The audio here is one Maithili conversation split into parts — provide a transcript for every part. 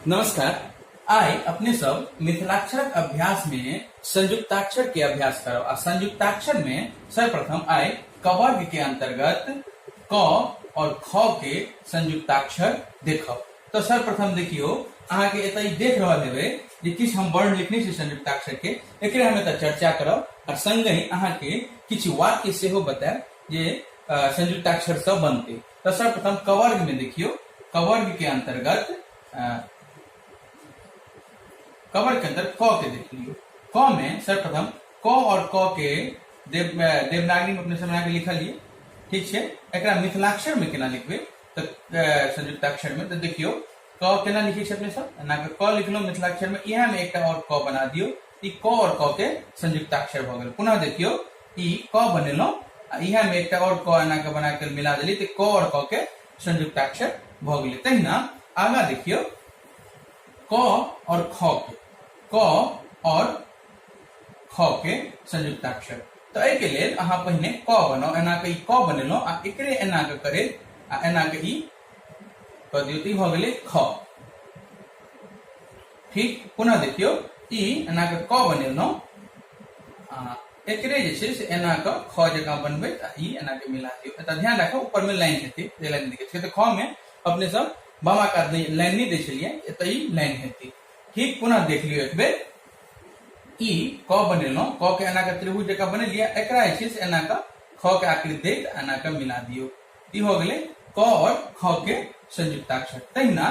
नमस्कार आइ अपने सब मिथिलाक्षरक अभ्यास में संयुक्ताक्षर के अभ्यास करब आ संयुक्ताक्षर में सर्वप्रथम आइ कवर्ग के अंतर्गत क और ख के संयुक्ताक्षर देखब तो सर्वप्रथम देखियो अहाँ के एतय देख रहल हेबे जे किछु हम वर्ण लिखने छी संयुक्ताक्षर के एकरे हम एतय चर्चा करब आ संगहि अहाँ के किछु वाक्य सेहो बतायब जे अ, संयुक्ताक्षर सब बनते तो सर्वप्रथम कवर्ग में देखियो कवर्ग के अंतर्गत कवर्ग के अंदर क के देख लियो क में सर्वप्रथम क और क के देव देवनागरी में अपने समझा के लिखा लिए ठीक है एक मिथिलाक्षर में केना लिखबे तो संयुक्ताक्षर में तो देखियो क केना लिखे अपने सब ना क लिखलो मिथिलाक्षर में यह में एक और क बना दियो ई क और क के संयुक्ताक्षर भ गेल पुनः देखियो ई क बनेलो आ इहा में एकटा और क एना के बना के मिला देली त क और क के संयुक्ताक्षर भ गेल तहिना आगा देखियो क और ख के क और ख के संयुक्ताक्षर तो एहि के लेल अहाँ पहिने क बनाउ एना के ई क बनेलो आ एकरे एना के करे आ एना के ई क दियौ त ई भ गेलै ख फिर पुनः देखियो ई एना के क बनेलहुँ एकरे जे छै से एना के ख जकाँ बनबै आ ई एना के मिला दियौ एतऽ ध्यान राखब ऊपर में लाइन हेतै जे लाइन देखै छियै तऽ ख में अपने सब बामा कात लाइन नहि दै छलियै एतऽ ई लाइन हेतै ठीक पुनः देख लियौ एक बेर ई क बनेलहुँ क के एना के त्रिभुज जकाँ बनेलियै एकरा जे छै से एना के ख के आकृति दैत एना के मिला दियौ ई हो गेलै क और ख के संयुक्ताक्षर तहिना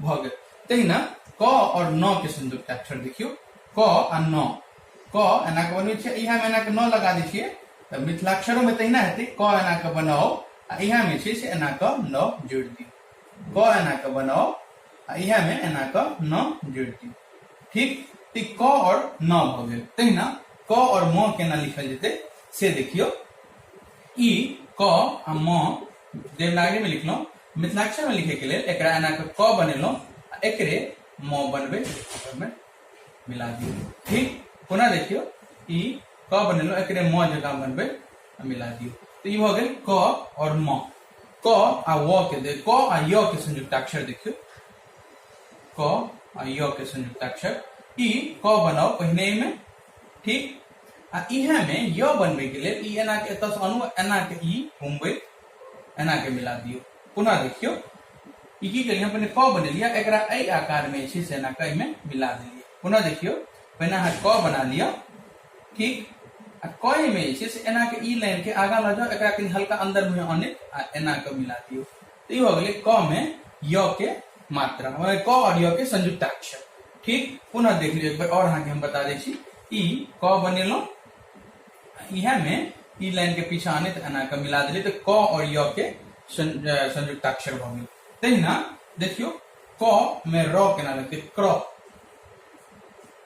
भऽ गेल तहिना क और न के संयुक्त अक्षर देखियो क आ न क एना के बनबै छियै इहा में एना के न लगा दै छियै तऽ मिथिलाक्षरो में तहिना हेतै क एना के बनाओ आ इहा में छै से एना के न जोड़ दी क एना के बनाओ आ इहा में एना के न जोड़ दी ठीक तऽ क और न भऽ गेल तहिना क और म केना लिखल जेतै से देखियो ई क आ म देवनागरी में लिखलहुँ मिथिलाक्षर में लिखे के लिए एक एना के क बनेलो एक म बनबे में मिला दियो ठीक पुनः देखियो ई क बनेलो एक म जगह बनबे मिला दियो तो ये हो गए क और म क आ व के दे क आ य के संयुक्ताक्षर देखियो क आ य के संयुक्ताक्षर ई क बनाओ पहने में ठीक आ इहे में य बनबे के लिए ई एना के एतस अनु एना के ई घूमबे एना के मिला दियो पुनः देखियो ई की करियै पहिने क बनेलियै एकरा एहि आकार में छै से एना के एहिमे मिला देलियै पुनः देखियो पहिने अहाँ क बना लिअ ठीक आ क में जे छै से एना के ई लाइन के आगा लऽ जाउ एकरा कनि हल्का अंदर में आने आ एना के मिला दियो तो ई हो गेलै क में य के मात्रा मने क और य के संयुक्ताक्षर ठीक पुनः देख लियो एक बार और अहाँ के हम बता दै छी ई क बनेलहुँ इहे में ई लाइन के पीछा आने तऽ एना के मिला देली तऽ क और य के सं- अ, संयुक्ताक्षर भऽ गेल तहिना देखियो क में र केना लगते क्र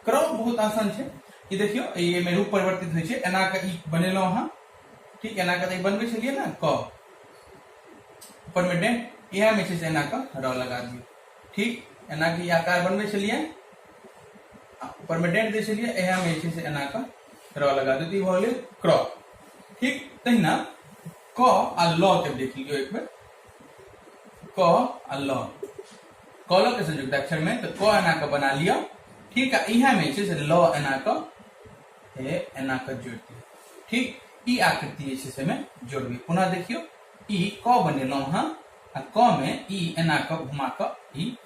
क्र बहुत आसान छै ई देखियो ई एमे रूप परिवर्तित होइ छै एना के ई बनेलहुं अहाँ ठीक एना के तऽ ई बनबै छलियै ने क ऊपर में डेंट इहे में छै से एना के र लगा दियौ ठीक एना के ई आकार बनबै छलियै परमानेंट दै छलियै इएहमे जे छै से एना कऽ रॉ लगा देती ई भऽ गेलै क्रॉ ठीक तहिना क आ लॉ के देख लियो एक बेर क आ लॉ क लॉ के संयुक्त अक्षर में तो क एना के बना लियो ठीक है इहा में छै से लॉ एना क हे एना क जोड़ दियो ठीक ई आकृति जे छै से में जोड़बी पुनः देखियो ई क बनेलहुं हां आ क में ई एना क घुमा क ई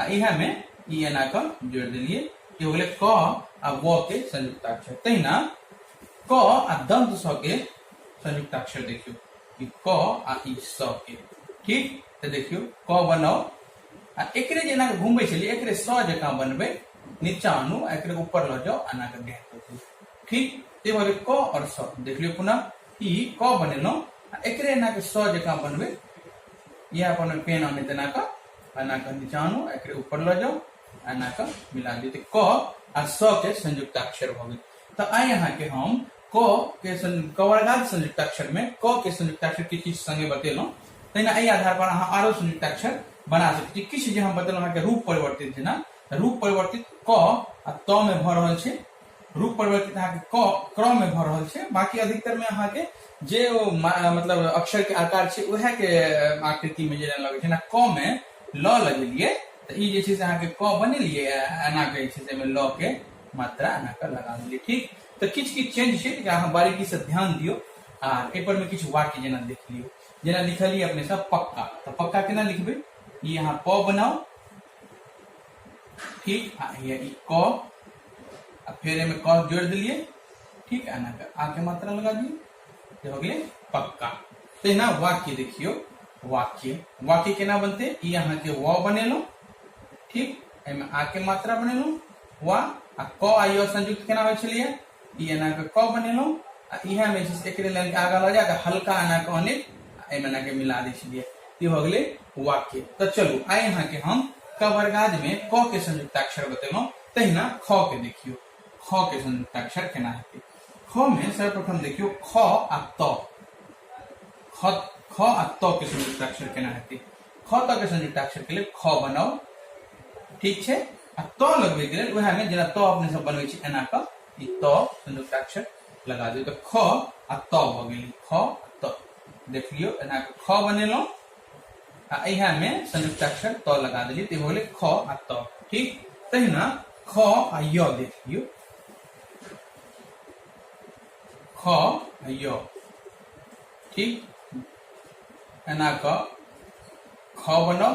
आ इहे में ई एन आकर जोड़ दिलिए कि हो गए क आ व के संयुक्ताक्षर तहिना क आ दंत स के संयुक्ताक्षर देखियो कि क आ ई स के ठीक तो देखियो क बनाओ आ एकरे जेना के घूमबे छलिए एकरे स जका बनबे नीचा आनू आ एकरे ऊपर ल जाओ आना के गैप कर दियो ठीक ते हो गए क और स देख लियो पुनः ई क बनेलो आ एकरे एना के स जका बनबे यह अपन पेन आने तेना का एना कऽ नीचा आनू एकरे ऊपर लऽ जाउ एना कऽ मिला दियौ तऽ क आ स के संयुक्ताक्षर भऽ गेल तऽ आइ अहाँके हम क के कवर्गात संयुक्ताक्षर में क के संयुक्ताक्षर के किछु संगे बतेलहुँ तहिना एहि आधार पर अहाँ आरो संयुक्ताक्षर बना सकैत छी किछु जे हम बतेलहुँ अहाँके रूप परिवर्तित जेना रूप परिवर्तित क आ त में भऽ रहल छै रूप परिवर्तित अहाँके क क्रम में भऽ रहल छै बाकी अधिकतर में अहाँके जे ओ मतलब अक्षर के आकार छै उएह के आकृति में जे लगे छै ना क में ल लगेलिए तऽ ई जे छै से अहाँके क बनेलिए एना के जे छै से ल के मात्रा एना के लगा देलिए ठीक तऽ किछु किछु चेंज छै तऽ अहाँ बारीकी से ध्यान दियो आ एहिपर में किछु वाक्य जेना देख लियो जेना लिखलिए अपने सब पक्का तऽ पक्का केना लिखबै ई अहाँ प बनाओ ठीक आ हिया ई क आ फिर एमे क जोड़ दिलिए ठीक है ना के आ के मात्रा लगा दिए ये हो गए पक्का तो ये ना वाक्य देखियो वाक्य वाक्य केना बनते ई यहाँ के व बनेलो ठीक एमे आ के मात्रा बनेलो वा आ क आ य संयुक्त केना होय छलिए ई एना के क बनेलहुँ आ इहे में जे छै से एकरे लाइन के आगा लऽ जाए तऽ हल्का एना के अनिल आ एहिमे एना के मिला दै छलियै ई भऽ गेलै वाक्य तऽ चलू आइ अहाँके हम कवर्गाद में क के संयुक्ताक्षर बतेलहुँ तहिना ख के देखियौ ख के संयुक्ताक्षर केना हेतै ख में सर्वप्रथम देखियौ ख आ त ख ख आ त के संयुक्ताक्षर केना हेतै ख त के संयुक्ताक्षर के लेल ख बनाउ ठीक छै आ त लगबे के लेल वह में जेना त अपने सब बनवे छी एना क ई त संयुक्ताक्षर लगा दियो तो ख आ त भ गेल ख आ त देख लियो एना क ख बनेलो आ एहा में संयुक्ताक्षर त लगा देली ते होले ख आ त ठीक तहिना ख आ य देख लियो ख आ य ठीक एना क ख बनल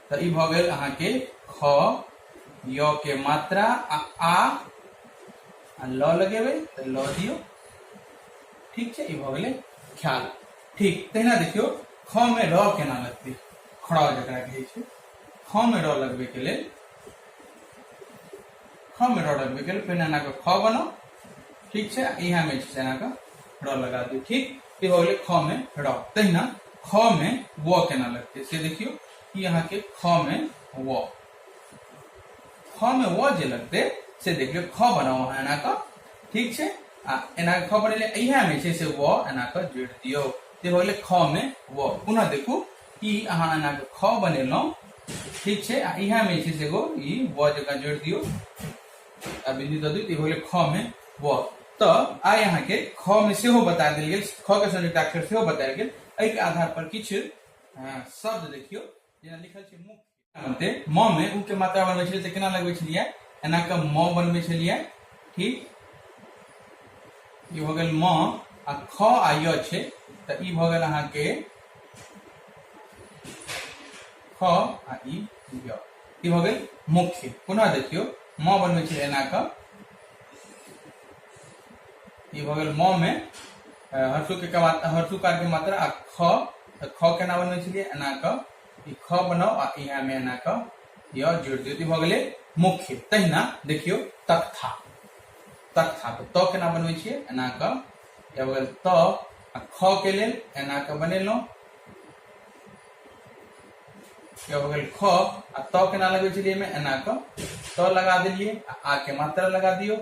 तो ये भ गेल अहाँ के ख य के मात्रा आ आ आ ल लगेबे तो ल दियो ठीक है ये भ गेल ख्याल ठीक तहिना देखियो ख में र केना लगते खड़ा जकरा कहे छै ख में र लगबे के लेल ख में र लगबे के लेल पहिने अहाँ के ख बनाओ ठीक है यहाँ में छै अहाँ के र लगा दियो ठीक ये भ गेल ख में र तहिना ख में व केना लगते से देखियो ई अहाँके ख मे व ख मे व जे लगतै से देख लियौ ख बनाउ अहाँ एना कऽ ठीक छै आ एना कऽ ख बनेलियै इएह मे छै से व एना कऽ जोड़ि दियौ से भऽ गेलै ख मे व पुनः देखू ई अहाँ एना कऽ ख बनेलहुँ ठीक छै आ इएह मे छै से एगो ई व जकाँ जोड़ि दियौ आ बिंदु दऽ दियौ तऽ ई भऽ गेलै ख मे व तऽ आइ अहाँके ख मे सेहो बता देल गेल ख के संयुक्ताक्षर सेहो बतायल गेल एहिके आधार पर किछु शब्द देखियो जेना लिखल छै मुख्य बनते म में उ के मात्रा बनबै छलियै तऽ केना लगबै छलियै एना के म बनबै छलियै ठीक ई भऽ गेल म आ ख आ य छै तऽ ई भऽ गेल अहाँके ख आ ई य ई भऽ गेल मुख्य पुनः देखियो म बनबै छलियै एना के ई भऽ गेल म मे हर्षु के मात्रा हर्षु कार के मात्रा आ ख तऽ ख केना बनबै छलियै एना कऽ ई ख बनाउ आ इहा मे एना कऽ य जोड़ि दियौ तऽ भऽ गेलै मुख्य तहिना देखियौ तथा तथा तऽ त केना बनबै छियै एना कऽ या भऽ गेल त आ ख के लेल एना कऽ बनेलहुँ या भऽ गेल ख आ त केना लगबै छलियै एहिमे एना कऽ त लगा देलियै आ आ के मात्रा लगा दियौ